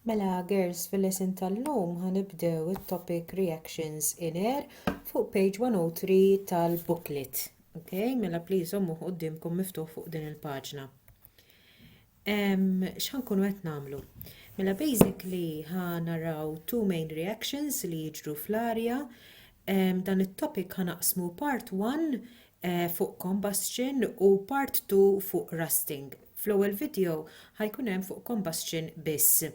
Mela girls fil-lesson tal-lum ħanibdew it-topic reactions in air fuq page 103 tal-booklet. Ok, mela please ommu qudiemkom miftuħ fuq din il-paġna. X'ħan kunu qed nagħmlu? Mela basically ħa naraw two main reactions li jiġru fl-arja. Dan it-topic ħanaqsmu part 1 fuq combustion u part 2 fuq rusting. Fl-ewwel video ħa jkun hemm fuq combustion biss.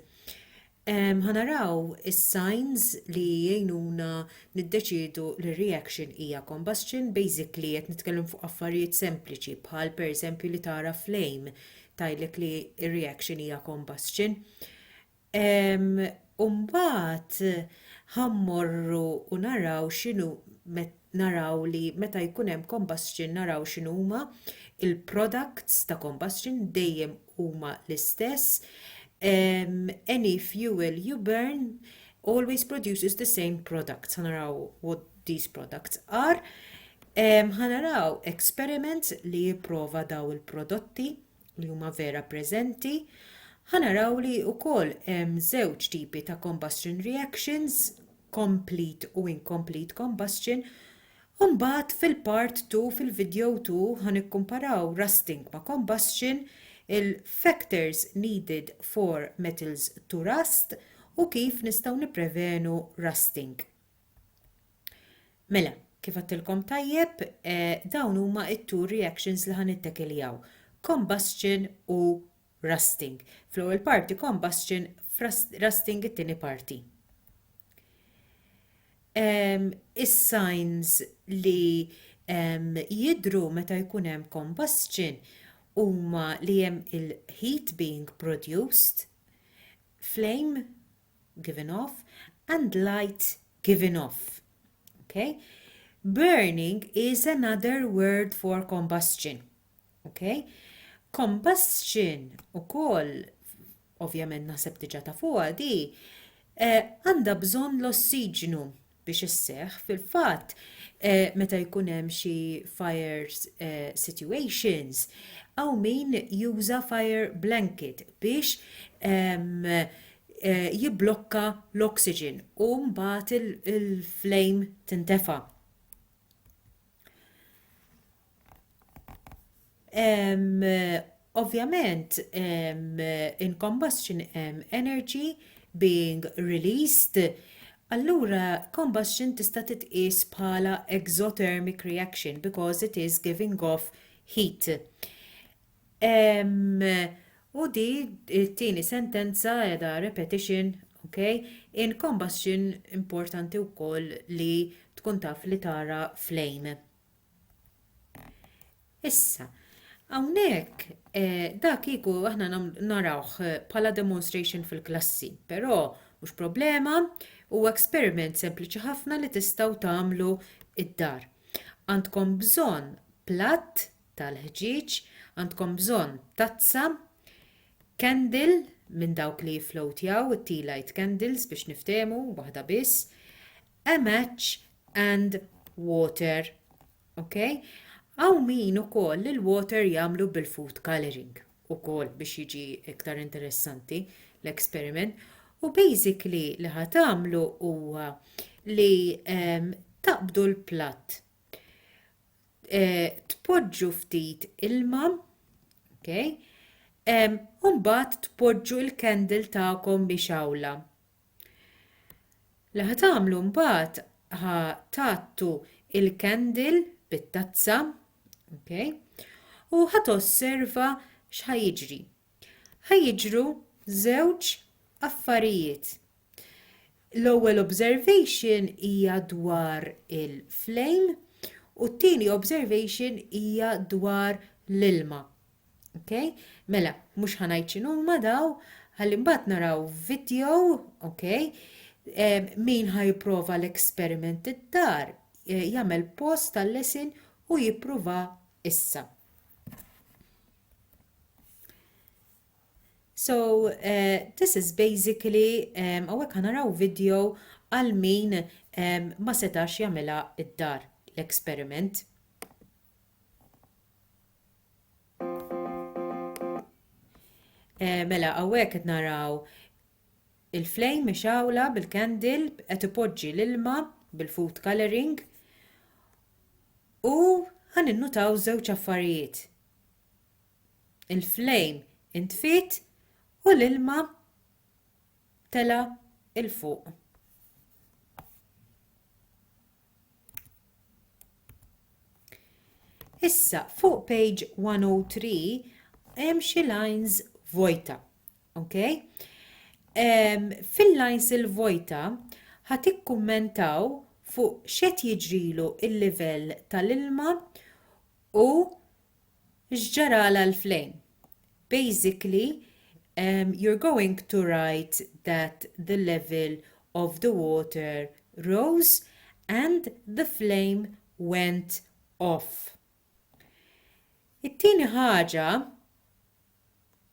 Ħa naraw is-signs li jgħinuna niddeċiedu li r-reaction hija combustion, basically qed nitkellem fuq affarijiet sempliċi bħal pereżempju li tara flame tgħidlek li r-reaction hija combustion. U mbagħad ħa mmorru u naraw x'inhu naraw li meta jkun hemm combustion naraw x'inhuma il-products ta' combustion dejjem huma l-istess. Any fuel you burn always produces the same products. Ħa naraw what these products are. Ħa naraw experiments li jipprova daw il-prodotti li huma vera preżenti, ħa naraw li wkoll hemm żewġ tipi ta' combustion reactions, complete u incomplete combustion, u mbagħad fil-part 2 fil-video 2 ħa nikkumparaw rusting ma' combustion, il-factors needed for metals to rust u kif nistgħu nipprevenu rusting. Mela, kif għattilkom tajjeb, eh, dawn huma it-two reactions li ħan ittekiljaw. Combustion u rusting. Fl-ewwel parti combustion, rusting it-tieni parti. Um, Is-signs li um, jidru meta jkun hemm combustion huma li hemm il-heat being produced, flame given off, and light, given off. Okay? Burning is another word for combustion. Okay? Combustion u koll, ovvjament naħseb diġa ta' fuqa di, eh, għanda eh, bżon l-ossiġnu biex isseħħ. Fil-fatt, eh, meta jkun hemm xi fire eh, situations, hawn min juża fire blanket biex ehm, eh, jibblokka l-oxygen u mbagħad il-flame tintefa'. Um, ovvjament, um, in combustion um, energy being released, allura combustion tista' titqies bħala exothermic reaction because it is giving off heat. Um, u di t-tieni sentenza edha repetition, ok? In combustion importanti wkoll li tkun taf li tara flame. Issa, Hawnhekk eh, dak kieku aħna narawh eh, bħala demonstration fil-klassi, però mhux problema u experiment sempliċi ħafna li tistgħu tagħmlu id-dar. Għandkom bżonn platt tal-ħġieġ, għandkom bżonn tazza, candle minn dawk li jiflowtjaw it-tea light candles biex niftehmu waħda biss, a match and water ok hawn min ukoll li l-water jagħmlu bil-food colouring ukoll biex jiġi iktar interessanti l-experiment u basically li ħa tagħmlu huwa li ehm, taqbdu l-platt eh, tpoġġu ftit ilma ok ehm, u mbagħad tpoġġu l-candle tagħkom biex awla Li ħa tagħmlu mbagħad ħa tgħattu il-candle bit-tazza, okay? u ħa tosserva x'ħa jiġri. Ħa jiġru żewġ affarijiet. L-ewwel observation hija dwar il-flame u t-tieni observation hija dwar l-ilma. Okay? Mela, mhux ħanajt x'inhuma daw, ħalli mbagħad naraw video, okay? Eh, min ħajprova l-eksperiment id-dar, eh, jagħmel post tal-lesin u jippruva issa. So, uh, this is basically, um, għawek ħanaraw video għal min um, ma setax jamela id-dar l-eksperiment. Eh, mela, għawek qed naraw il-flame mixawla bil-candle qed ipoġġi l-ilma bil-food coloring u għan innutaw żewġ affarijiet. Il-flame intfit u l-ilma tela il-fuq. Issa, fuq page 103, hemm xi lines vojta. Okay? Um, Fil-lines il-vojta, ħat ikkummentaw fuq xed jiġrilu il-livell tal-ilma u X'ġaralha l-flame? Basically you're going to write that the level of the water rose and the flame went off. It-tieni ħaġa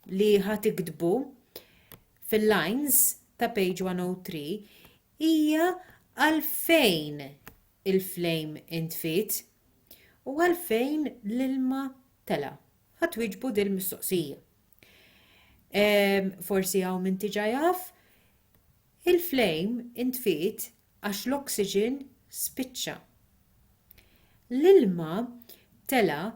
li ħa tiktbu fil-lines ta' page 103 hija għalfejn il-flejm intfiet u għalfejn l-ilma tela'. Ħa twieġbu din il-mistoqsija. Ehm, forsi hawn min tiġa jaf, il-flejm intfiet għax l-oxygen spiċċa. L-ilma tela'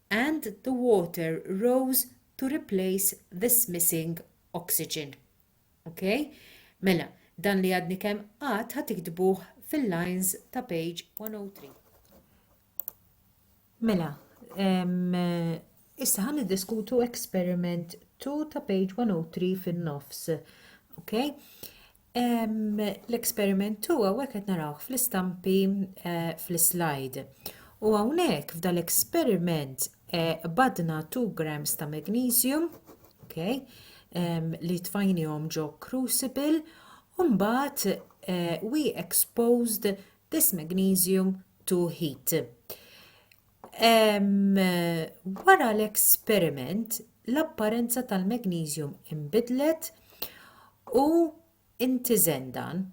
and the water rose to replace this missing oxygen. Ok? Mela, dan li għadni kemm qatt ħa tiktbuh fil-lines ta' page 103. Mela, issa ħan diskutu experiment 2 ta' page 103 fin-nofs. Ok? L-esperiment huwa hawnhekk qed narawh fl-istampi eh, fl-slide. U hawnhekk f'da l-esperiment eh, badna 2 grams ta' magnesium, okay, li tfajnihom ġo crucible, u mbagħad eh, we exposed this magnesium to heat. Wara l-esperiment, l-apparenza tal-magneżjum inbidlet u ntiżen dan.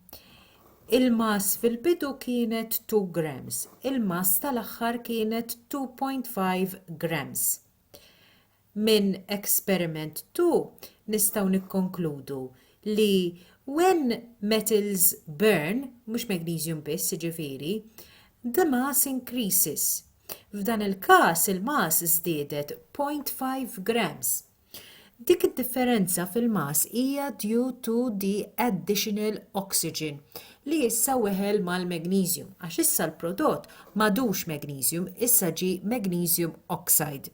Il-mass fil-bidu kienet 2 grams, il-mass tal-aħħar kienet 2.5 grams. Minn experiment two nistgħu nikkonkludu li when metals burn, mhux magnesium biss jiġifieri, the mass increases. F'dan il-każ il-mass żdiedet 0.5 grams. Dik id-differenza fil-mass hija due to the additional oxygen li issa weħel mal-magnesium għax issa l-prodott m'għadux magnesium issa ġie magnesium oxide.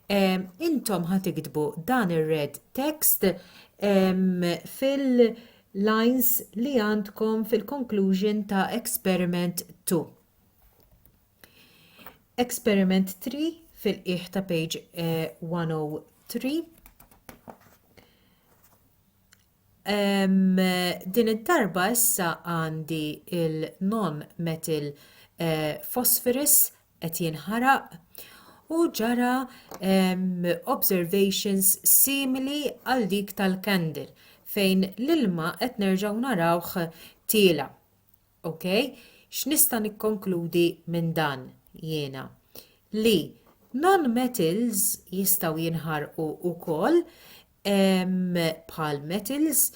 intom ħa tiktbu dan ir-red text fil-lines li għandkom fil-conclusion ta' experiment 2. Experiment 3 fil-qiegħ ta' page 103. Eh, Din id-darba issa għandi il-nom metil phosphorus qed jinħaraq u ġara observations simili għal dik tal-candle fejn l-ilma qed nerġgħu narawh tiela'. Ok? X'nista' nikkonkludi minn dan jiena? Li non-metals jistgħu jinħarqu wkoll bħal metals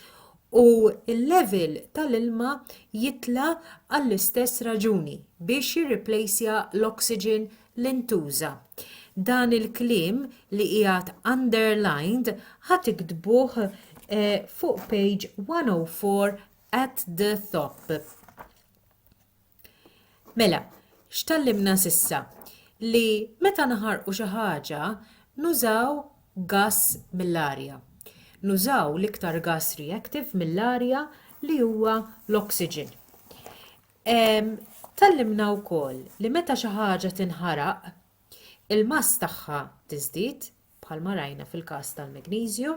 u l-level tal-ilma jitla' għall-istess raġuni, biex jirriplejsja l-oxygen li ntuża. Dan il-kliem li qiegħed underlined ħa tiktbuh fuq page 104 at the top. Mela, x'tgħallimna s'issa? Li meta naħarqu xi ħaġa nużaw gass mill-arja. Nużaw l-iktar gass reactive mill-arja li huwa l-oxygen. Tgħallimna wkoll li meta xi ħaġa tinħaraq, il-mass tagħha tiżdied, bħalma rajna fil-każ tal-magneżju,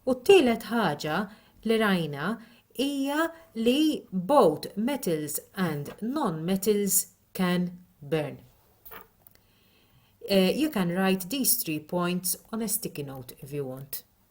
u t-tielet ħaġa li rajna hija li both metals and non-metals can burn. Uh, you can write these three points on a sticky note if you want.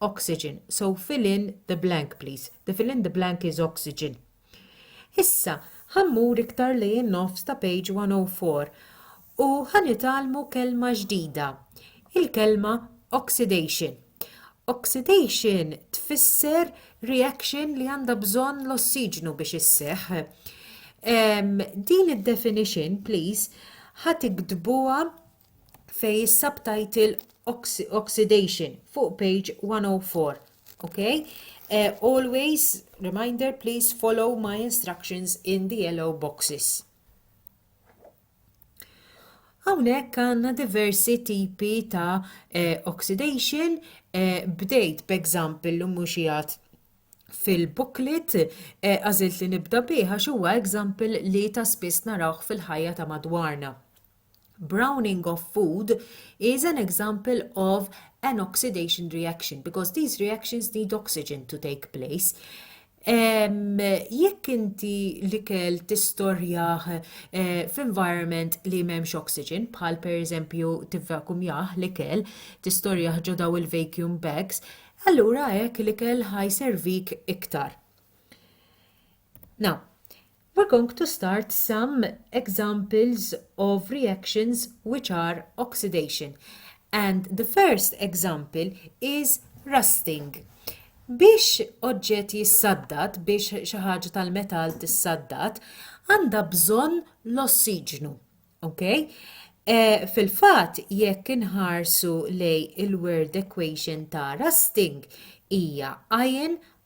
oxygen, so fill in the blank please, the fill in the blank is oxygen. Issa ħa mmur iktar lejn in-nofs ta' page 104 u ħa nitgħallmu kelma ġdida, il-kelma oxidation. Oxidation tfisser reaction li għandha bżonn l-ossiġnu biex isseħħ. Ehm, din id-definition, please, ħa tiktbuha fejn is-subtitle oxidation fuq page 104. Okay? Uh, always, reminder, please follow my instructions in the yellow boxes. Hawnhekk għandna diversi tipi ta' eh, oxidation eh, bdejt b'example l mhux fil-booklet eh, għażilt li nibda bih għax huwa example li ta' spiss narawh fil-ħajja ta' madwarna. Browning of food is an example of an oxidation reaction because these reactions need oxygen to take place. Um, jekk inti l-ikel tistorjaħ uh, eh, f'environment li m'hemmx oxygen, bħal per eżempju tivvakumjaħ l-ikel, tistorjaħ ġo daw il-vacuum bags, allura hekk l-ikel ħaj servik iktar. Now, We're going to start some examples of reactions which are oxidation and the first example is rusting. Biex oġġett jissaddad, biex xi ħaġa tal-metall tissaddad, għandha bżonn l-ossiġnu. Okay? Eh, fil-fatt, jekk inħarsu lej il-word equation ta' rusting hija iron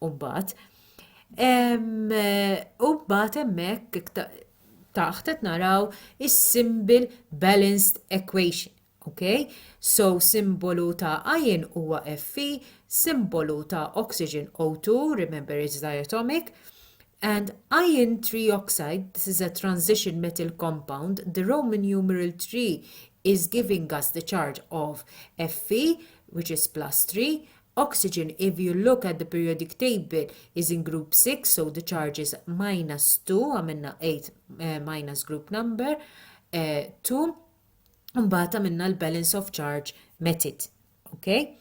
Umbagħad, umbagħad hemmhekk taħt qed naraw is-symbol balanced equation. Okay? So simbolu ta' iron huwa Fe, simbolu ta' oxygen O2, remember it's diatomic, and iron trioxide, this is a transition metal compound, the Roman numeral 3 is giving us the charge of Fe, which is plus 3, Oxygen If you look at the periodic table is in group 6 so the charge is minus 2 għamilna 8 eh, minus group number 2 eh, mbagħad għamilna l-balance of charge method. Okay?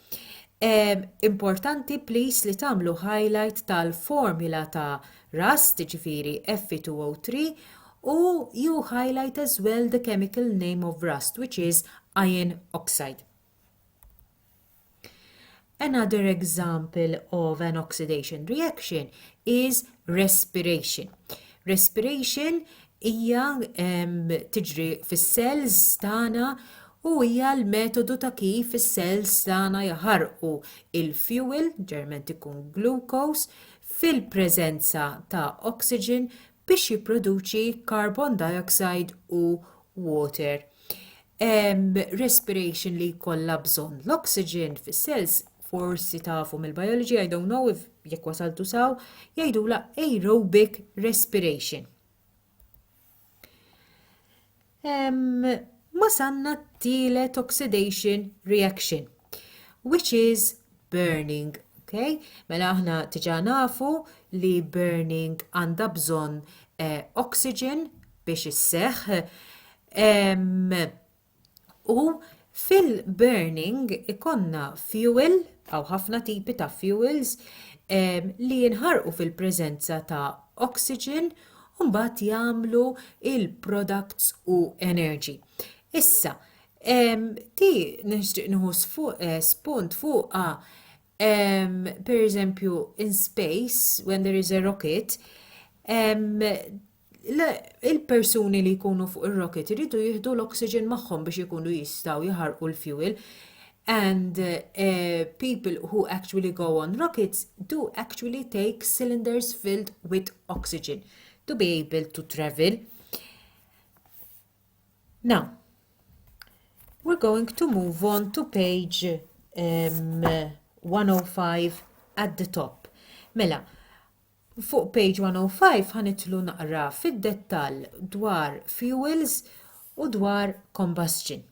Um, importanti please li tagħmlu highlight tal-formula ta' RAS, ġifiri F2O3, u you highlight as well the chemical name of rust, which is iron oxide. Another example of an oxidation reaction is respiration. Respiration hija tiġri fis-cells tagħna u hija l-metodu ta' kif is-cells tagħna jaħarqu il-fuel, ġeneralment ikun glucose, fil-preżenza ta' oxygen biex jipproduċi carbon dioxide u water respiration li jkollha bżonn. L-oxygen fis-cells forsi tafu mill-biology, I don't know if jekk wasaltu saw, jgħidula aerobic respiration. Mbagħad għandna t-tielet oxidation reaction, which is burning. Okay? Mela aħna diġà nafu li burning għandha bżonn eh, oxygen biex isseħħ. U Fil-burning ikollna fuel aw ħafna tipi ta' fuels li jinħarqu fil-preżenza ta' oxygen u mbagħad jagħmlu l-products u energy. Issa, di nixtieq nieħu spunt fuqha pereżempju in space when there is a rocket Le, il-persuni li jkunu fuq ir-rocket iridu jieħdu l-oxygen magħhom biex ikunu jistgħu jaħarqu l-fuel and uh, people who actually go on rockets do actually take cylinders filled with oxygen to be able to travel. Now, we're going to move on to page um, 105 at the top. Mela, Fuq page 105 ħa nidħlu naqra fid-dettall dwar fuels u dwar combustion.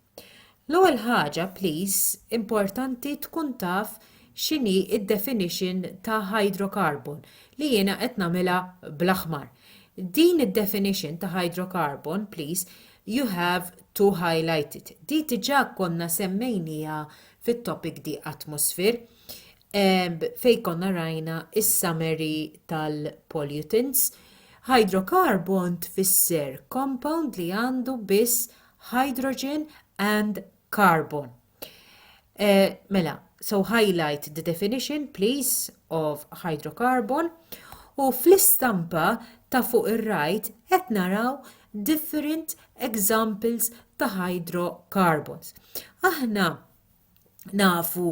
L-ewwel ħaġa please importanti tkun taf x'inhi d-definition ta' hydrocarbon li jiena qed nagħmilha bl-aħmar. Din id-definition ta' hydrocarbon please you have to highlight it. Di diġà konna semmejnieha fit-topic di atmosphere. fejn konna rajna s-summary tal-pollutants, hydrocarbon tfisser compound li għandu biss hydrogen and carbon. Eh, mela, so highlight the definition please of hydrocarbon u fl-istampa ta' fuq ir-right qed naraw different examples ta' hydrocarbons. Aħna nafu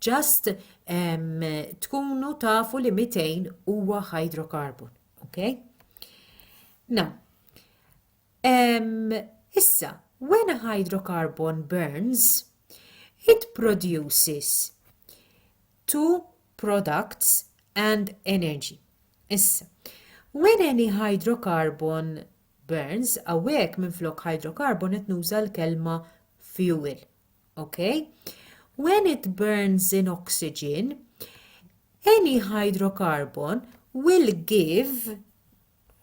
Just um, tkunu tafu li 200 huwa hydrocarbon. Okay? Now, um, issa, when a hydrocarbon burns, it produces two products and energy. Issa, when any hydrocarbon burns, awek minn flok hydrocarbon qed nuża l-kelma fuel, Okay? When it burns in oxygen, any hydrocarbon will give,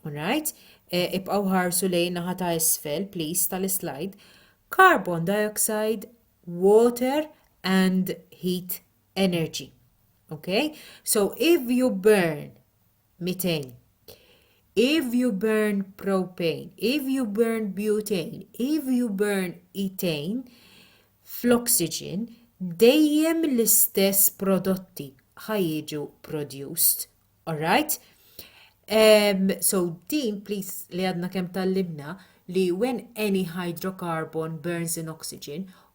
right? Eh, ibqaw ħarsu lejn naħa ta' isfel, please, tal-slide, carbon dioxide, water and heat energy. Okay? So if you burn 200. If you burn propane, if you burn butane, if you burn ethane, fl-oxygen dejjem l-istess prodotti ħajġu produced. Alright? Um, so din please li għadna kemm tallimna li when any hydrocarbon burns in oxygen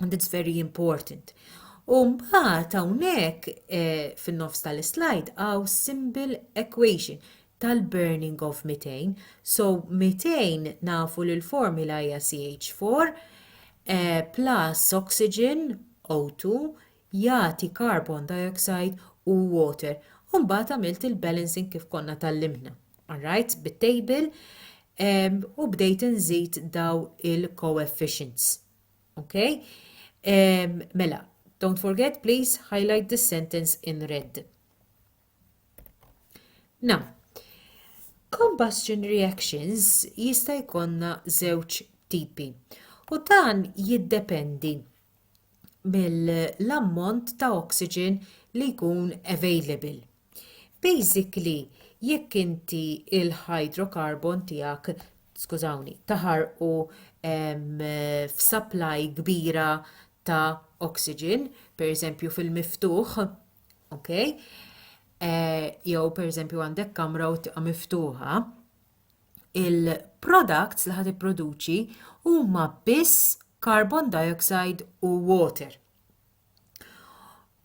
And it's very important. U mbagħad hawnhekk eh, fin-nofs tal-slide għaw simple equation tal-burning of methane. So methane nafu li l-formula hija CH4 eh, plus oxygen O2 jagħti carbon dioxide u water. U mbagħad għamilt il-balancing kif konna tal-limna. Alright, bit-table u bdejt nżid daw il-coefficients. Okay? Um, mela, don't forget, please highlight this sentence in red. Now, combustion reactions jista' jkollna żewġ tipi u dan jiddependi mill-ammont ta' oxygen li jkun available Basically jekk inti l-hydrocarbon tiegħek skużawni, taħarqu f'supply kbira ta' oxygen, pereżempju fil-miftuħ, ok, jew pereżempju għandek kamra u tibqa' miftuħa, il-products li ħa tipproduċi huma biss carbon dioxide u water.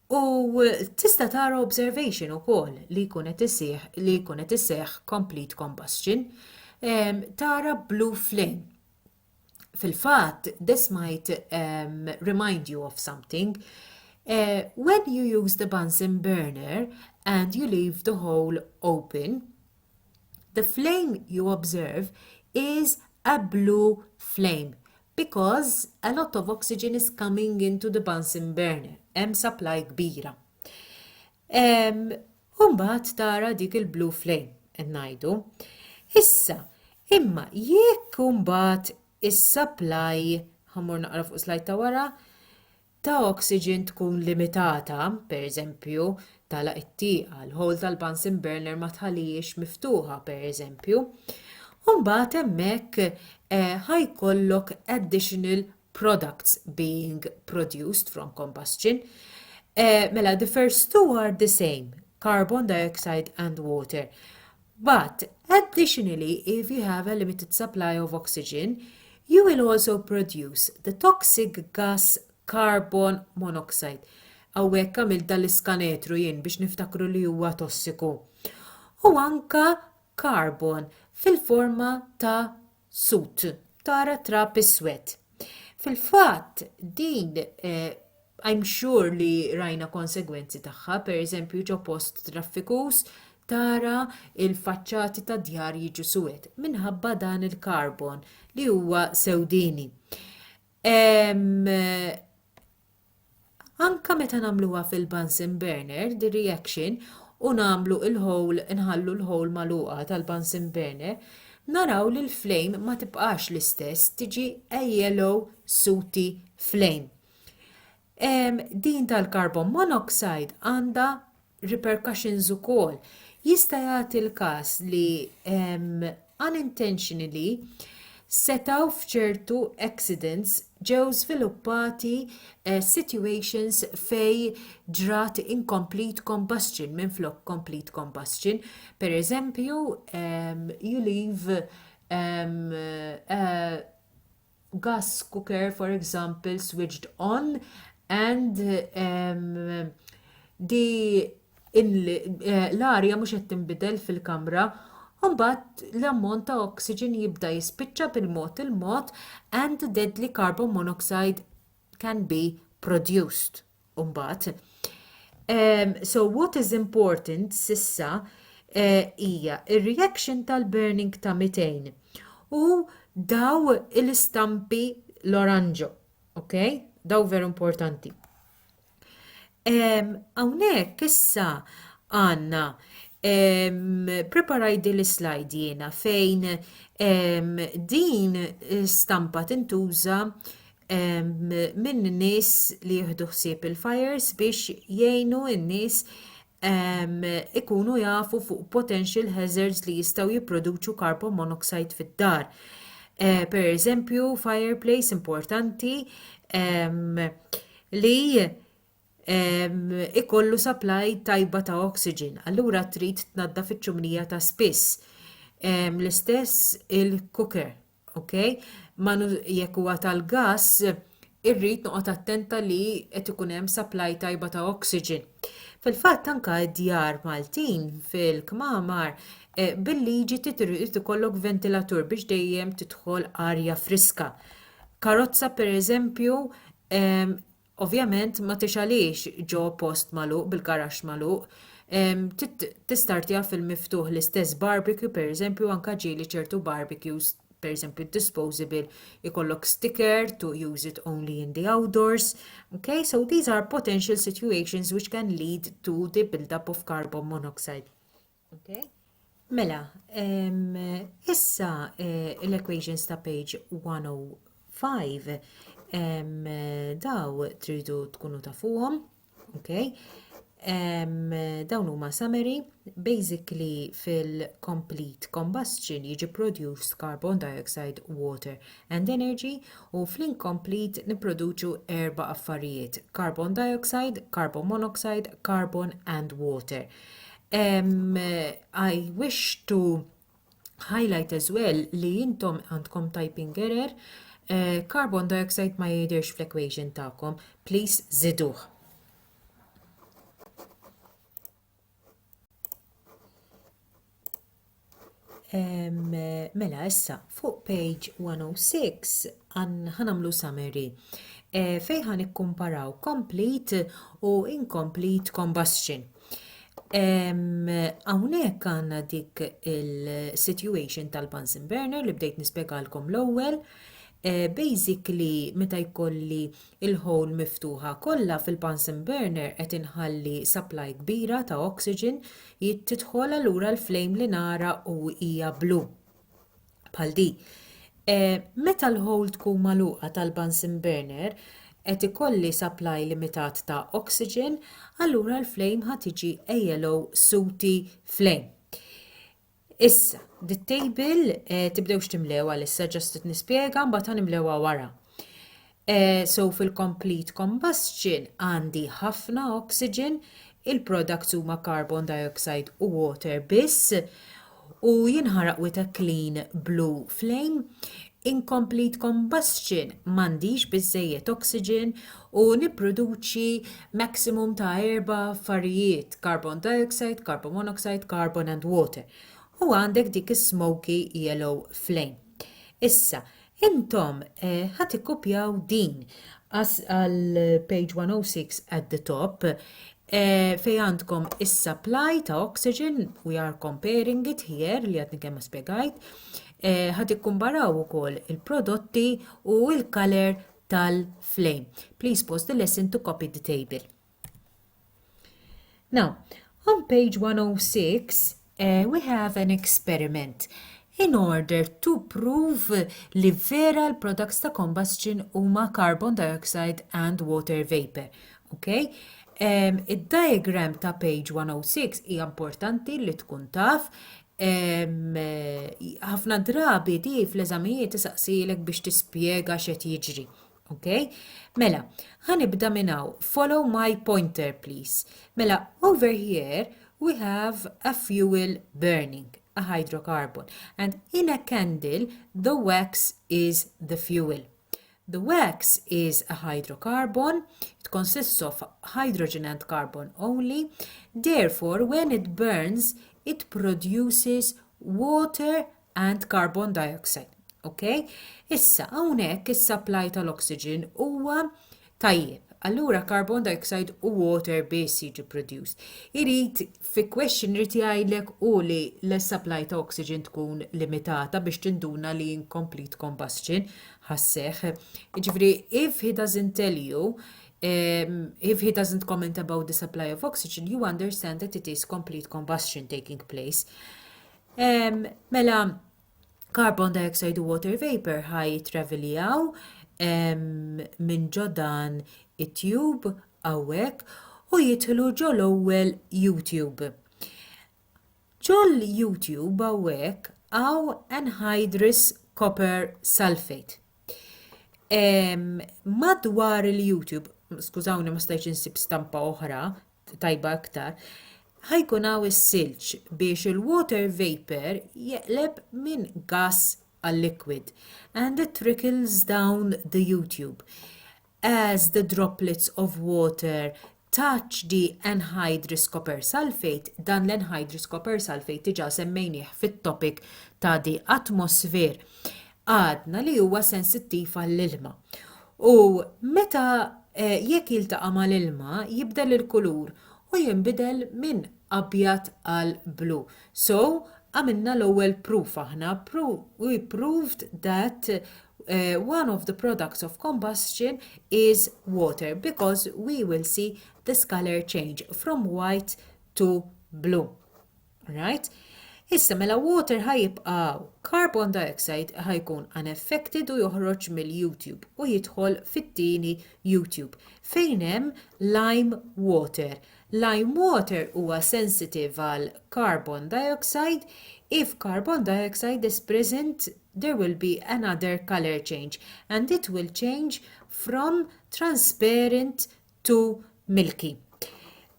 U tista' tara observation ukoll li jkun qed isih li jkun qed iseħħ complete combustion ehm, tara blue flame. Fil-fatt, this might um, remind you of something. Uh, when you use the Bunsen burner and you leave the hole open, The flame you observe is a blue flame because a lot of oxygen is coming into the Bunsen burner. Hemm supply kbira. Umbat tara dik il-blue flame, ngħidu. Issa, imma jekk umbat is-supply, ħammur naqra fuq slajta ta' wara, ta' oxygen tkun limitata, pereżempju, tagħlaq it-tieqa, l-hole tal-Bunsen burner ma tħallihiex miftuħa, pereżempju, u mbagħad hemmhekk ħa jkollok additional products being produced from combustion. Mela the first two are the same, carbon dioxide and water. But, additionally if you have a limited supply of oxygen, you will also produce the toxic gas carbon monoxide. Hawnhekk għamilt dan l-iskanetru jien biex niftakru li huwa tossiku. U anka karbon fil-forma ta' sud, tara t-trab iswed. Fil-fatt, din eh, I'm sure li rajna konsegwenzi tagħha, per eżempju ġo post traffikus, tara il-faċċati ta' djar jiġu suwed minħabba dan il-karbon li huwa sewdini. Anke meta nagħmluha fil-Bunsen burner, the reaction, u nagħmlu l-hole nħallu l-hole magħluqa tal-Bunsen burner, naraw li l-flame ma tibqax l-istess, tiġi a yellow sooty flame. Din tal-carbon monoxide għandha repercussions ukoll. Jista' jagħti l-każ li unintentionally setgħu f'ċertu accidents ġew żviluppati eh, situations fej ġrat incomplete combustion minflok complete combustion. Per eżempju, you leave um, uh, gas cooker for example switched on and um, di eh, l-arja mhux qed tinbidel fil-kamra Umbat l-ammont ta' oxygen jibda jispiċċa bil-mod il-mod and deadly carbon monoxide can be produced. Umbagħad, um, so what is important sissa eh, hija uh, ir-reaction tal-burning ta' 200 u daw l-istampi l-oranġo, ok? Daw veru importanti. Hawnhekk um, issa għandna preparaj din l-slide jiena fejn din stampa tintuża minn nies li jieħdu ħsieb il-fires biex jgħinu n-nies ikunu jafu fuq potential hazards li jistgħu jipproduċu carbon monoxide fid-dar. Eh, per eżempju, fireplace importanti li ikollu supply tajba ta' oxygen, allura trid tnadda fiċ-ċumnija ta' spiss. L-istess il-cooker ok? Ma jekk huwa tal-gass, irrid noqgħod attenta li qed ikun hemm supply tajba ta' oxygen. Fil-fatt anka d-djar Maltin fil-kmamar eh, bil-liġi titrid ikollok ventilatur biex dejjem tidħol arja friska. Karozza pereżempju Ovvjament ma tixgħalhiex ġo post magħluq bil-garaxx magħluq. Tistartiha fil-miftuħ l-istess barbecue pereżempju anke ġieli ċertu barbecues pereżempju disposable ikollok sticker to use it only in the outdoors. Okay, so these are potential situations which can lead to the build-up of carbon monoxide. Okay. Mela, um, issa uh, l-equations ta' page 105 um, daw tridu tkunu tafuhom, okay? Um, dawn huma summary, basically fil-complete combustion jiġi produced carbon dioxide, water and energy u fl-incomplete niproduċu erba' affarijiet, carbon dioxide, carbon monoxide, carbon and water. Um, I wish to highlight as well li jintom għandkom typing error, uh, carbon dioxide ma jidirx fl-equation ta'kom, please ziduħ. Um, mela, issa, fuq page 106 ħanamlu summary e, eh, fejħan ikkumparaw complete u incomplete combustion. Hawnhekk għandna dik il-situation tal-Bunsen burner li bdejt nispjegalkom l-ewwel. Eh, basically, meta jkolli il-ħol miftuħa kollha fil-Bunsen burner qed inħalli supply kbira ta' oxygen Hi tidħol allura l-flame li nara u hija blu. Bħal di. E, meta l-hole tkun magħluqa tal-Bunsen burner, qed ikolli supply limitat ta' oxygen, allura l-flame ħa tiġi a yellow sooty flame. Issa, dit-table eh, tibdewx timlew għalissa ġast qed nispjega mbagħad ħanimlewha wara. Eh, so fil-complete combustion għandi ħafna oxygen, il-products huma carbon dioxide u water biss u jinħaraq with a clean blue flame. inkomplit combustion m'għandix biżżejjed oxygen u nipproduċi maximum ta' erba' affarijiet, carbon dioxide, carbon monoxide, carbon and water. U għandek dik is-smoky yellow flame. Issa, intom eh, ħa tikkupjaw din għal page 106 at the top eh, fej għandkom is-supply ta' oxygen, we are comparing it here li għadni kemm spjegajt, Eh, ħad ikkumbaraw ukoll il-prodotti u l-color tal-flame. Please pause the lesson to copy the table. Now, on page 106, uh, eh, we have an experiment in order to prove li vera l-products ta' combustion huma carbon dioxide and water vapor. Okay? Um, Id-diagram ta' page 106 hija importanti li tkun taf ħafna drabi di fl-eżamijiet isaqsilek biex tispjega x'qed jiġri. Ok? Mela, ħanibda minn hawn. Follow my pointer, please. Mela, over here we have a fuel burning, a hydrocarbon, and in a candle the wax is the fuel. The wax is a hydrocarbon, it consists of hydrogen and carbon only, therefore when it burns it produces water and carbon dioxide. Okay? Issa, hawnhekk is-supply tal-oxygen huwa tajjeb. Allura carbon dioxide u water biss jiġi produced. Irid Fi question irid jgħidlek hu li l-supply ta' oxygen tkun limitata biex tinduna li incomplete combustion ħa sseħħ. Jiġifieri if he doesn't tell you, if he doesn't comment about the supply of oxygen, you understand that it is complete combustion taking place. Mela, carbon dioxide u water vapour ħa jitraveljaw minn ġo dan it-tube hawnhekk u jidħlu ġo l-ewwel U-tube. Ġo l-U-tube hawnhekk hawn anhydrous copper sulfate. Madwar il-U-tube, skużawni ma stajtx insib stampa oħra tajba iktar, ħa jkun hawn is-silġ biex il-water vapour jeqleb minn gass għal liquid and it trickles down the U-tube. As the droplets of water touch the anhydrous copper sulphate, dan l-anhydrous copper sulphate diġà semmejnieh fit-topic ta' the atmosphere, għadna li huwa sensittiv għall-ilma. U meta, jekk jiltaqa' mal-ilma, jibdel il-kulur u jinbidel minn abjad għal blu. So, għamilna l-ewwel proof aħna, we proved that one of the products of combustion is water because we will see this colour change from white to blue. Right? Issa mela water ħa jibqa' hawn. Carbon dioxide ħa jkun unaffected u joħroġ mill-U-tube u jidħol fit-tieni U-tube fejn hemm lime water. Lime water huwa sensitive għal carbon dioxide. If carbon dioxide is present there will be another color change and it will change from transparent to Milky.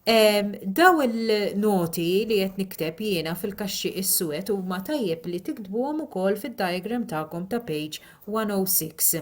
Ehm, daw il-noti li qed nikteb jiena fil-kaxxi is-suwed huma tajjeb li tiktbuhom ukoll fid-diagram tagħkom ta' page 106.